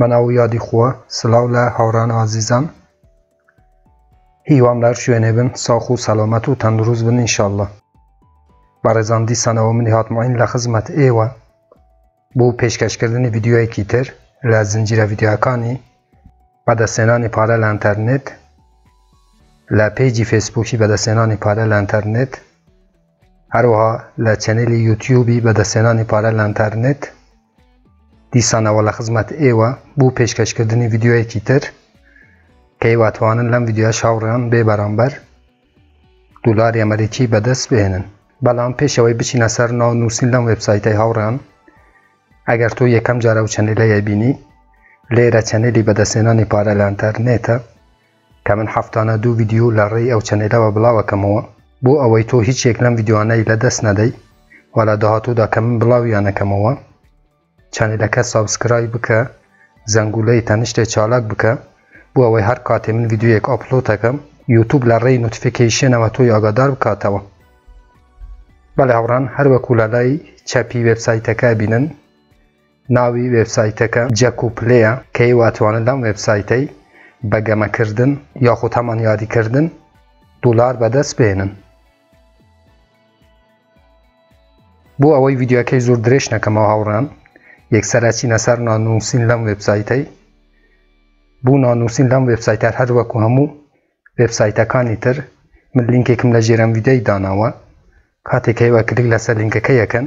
بەناو و یادی خووە سلاو لە هاوران و ئازیزان هیوام لەهەر شوێنێ بن ساخ و سەلامەت و تەندروست بن ان شاءاللە بەڕێزان دیسانەوە منی هاتمەین لە خزمەت ئێوە بۆ پێشکەشکردنی ڤیدیۆیەکی تر لە زنجیرە ڤیدیۆکانی بەدەستێنانی پارە لە ئەنتەرنێت لە پێجی فێسبووکی بەدەستێنانی پارە لە ئەنتەرنێت هەروەها لە چەنێلی یوتیوبی بەدەستێنانی پارە لە ئەنتەرنێت دیسانەوە لە خزمەت ئێوە بوو پێشکەشکردنی ڤیددیوەیەکی تر کە هیواتوانن لەم ڤیددیوە شاوڕیان بێ بەرامبەر دولاری ئەمریکی بەدەست بێنن بەڵام پێشەوەی بچینە سەر ناو نووسین لەم وبسایتەی هاوڕیان ئەگەر تۆ یەکەم جارە و چەنێلەیە بینی لێرە چەنێلی بەدەستێنانی پارە لە ئەنتەرنێتە کە من هەفتانە دوو ڤیدیۆ لە ڕێی ئەو چەنێلەوە بڵاوەکەمەوە بۆ ئەوەی تۆ هیچ یەک لەم ڤیدیۆانەی لە دەست نەدەی و لە داهاتوودا کە من بڵاویانەکەمەوە چەنێلەکە سابسکرای بکە زەنگولەی تەنشتێ چالاک بکە بۆ ئەوەی هەر کاتێ من ڤیدیۆیەک ئۆپلۆتەکەم یوتوب لە ڕێی نوتفیکەیشێنەوە تۆی ئاگادار بکاتەوە بەڵێ هەوڕان هەروەکو لە لای چەپی وێبسایتەکە بینن ناوی وێبسایتەکە جەک و پلەیە کە ئێوە ئەتوانن لەم وێبسایتەی بە گەمەکردن یاخود هەمان یاریکردن دولار بەدەست بێنن. بۆ ئەوەی ڤیددیوەکەی زۆر درێژ نەکەمەوە هاوڕان یەکسەرچینە سەر نانووسین لەم وێبسایتەی بۆ نانووسین لەم وێبسایتەر هەر وەکو هەموو وێبسایتەکانی تر من لینکێکم لە ژێرم ویددیوی داناوە کاتێک هەیوە کلیک لەسەر لینکەکە یەکەن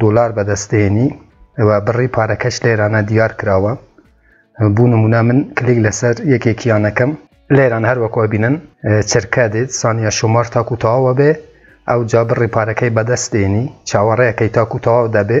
دۆلار بەدەست دێنی ئەوە بڕی پارەکەش لێرانە دیار کراوە بوو نمونە من کلیک لەسەر یەکێکیانەکەم لێران هەروەکو بینن چرکە دێت سانیە شومار تاکو تەواوە بێ ئەو جا بڕی پارەکەی بەدەست دێنی چاوەڕێەکەی تاکو تەواو دەبێ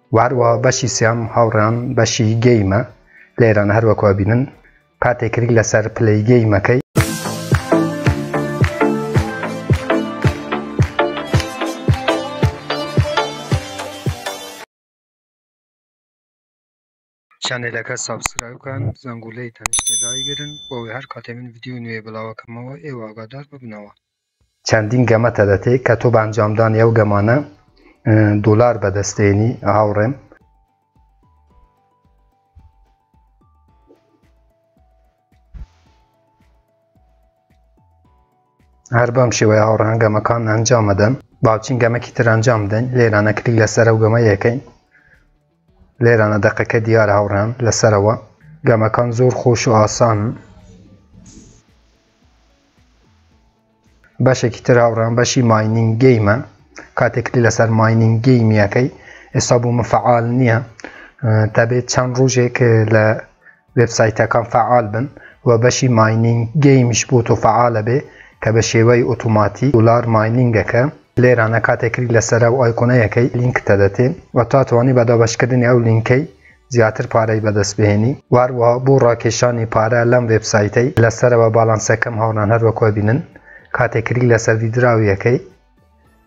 و هەروە بەشی سیام هاوڕێیان بەشی گەیمە لێران هەروەکوە بینن کاتێک کلیک لەسەر پلەی گەیمەکەی چەنێلەکە سابسکرایب کەن زەنگولەی تەنیشتێ دایگرن بۆ ئەوەی هەر کاتێ من ڤیدیۆی نوێ بڵاوەکەمەوە ئێوە ئاگادار ببنەوە. چەندین گەمە تەدەتێ کە تۆ بە ئەنجامدانی ئەو گەمانە دۆلار بەدەست دێنی هاوڕێم. هەر بەم شێوەیە هاوڕێیان گەمەکان ئەنجام ئەدەن باوچین گەمەکی تر ئەنجام بدەین لێرانە کلیک لەسەر ئەو گەمە یەکەین لێرانە دەقەکە دیارە هاوڕێیان لەسەرەوە گەمەکان زۆر خۆش و ئاسان بەشێکی تر هاوڕێیان بەشی ماینینگ گەیمە کاتێکلی لەسەر ماینینگ گەیمیەکەی ئێستا بوو مفعال نییە تابێت چەند ڕۆژێک لە وێبسایتەکان فەعال بن و بەشی ماینینگ گەیمیش بۆ تۆ فەعالە بێ کە بە شێوەی ئۆتۆماتیک دۆلار ماینینگ ئەکە. لێرانە کاتێ کلیک لەسەر ئەو ئایکۆنە یەکەی لینکت ئەدەتێ و تا توانی بە دابەش کردنی ئەو لینکەی زیاتر پارەی بەدەست بهێنی و هەروەها بۆ ڕاکێشانی پارە لەم وێبسایتەی لە سەرەوە باڵانسەکەم هاوڕان هەروەک ئەبینن کاتێ کلیک لەسەر ویدراو یەکەی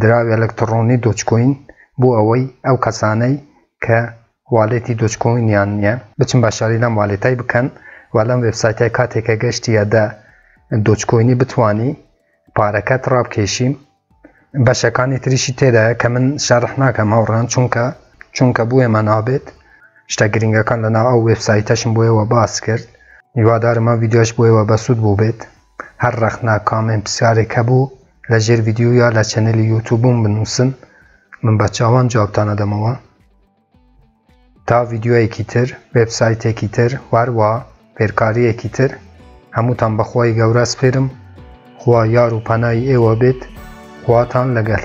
دراوی ئەلەکتڕۆنی دۆجکۆین بۆ ئەوەی ئەو کەسانەی کە والێتی دۆجکۆینیان نییە بچن بە شاری لەم والێتای بکەن و لەم وێبسایتای کاتێکە گەشتیە دە دۆجکۆینی بتانی پارەکەت ڕابکێشیم بەشەکانی تریشی تێدایە کە من شەرح ناکەم هاوڕان چونکە چونکە بووێمە نابێت شتە گرنگەکان لەناو ئەو وێبسایتەشم بۆیەوە باس کرد هیوادارمە ویددیوش بۆیەوە بەسوود بوو بێت هەر ڕەخنە کامێن پسیارێک هەبوو لە ژێر ڤیدیو یا لە چەنێلی یوتوبم بنوسن من بە چاوان جوابتان ئەدەمەوە تا ڤیدیۆیەکی تر وێبسایتێکی تر واروا فێرکاریەکی تر هەمووتان بەخوای گەورە سپێرم خوا یار و پەنای ئێوە بێت خواتان لەگەل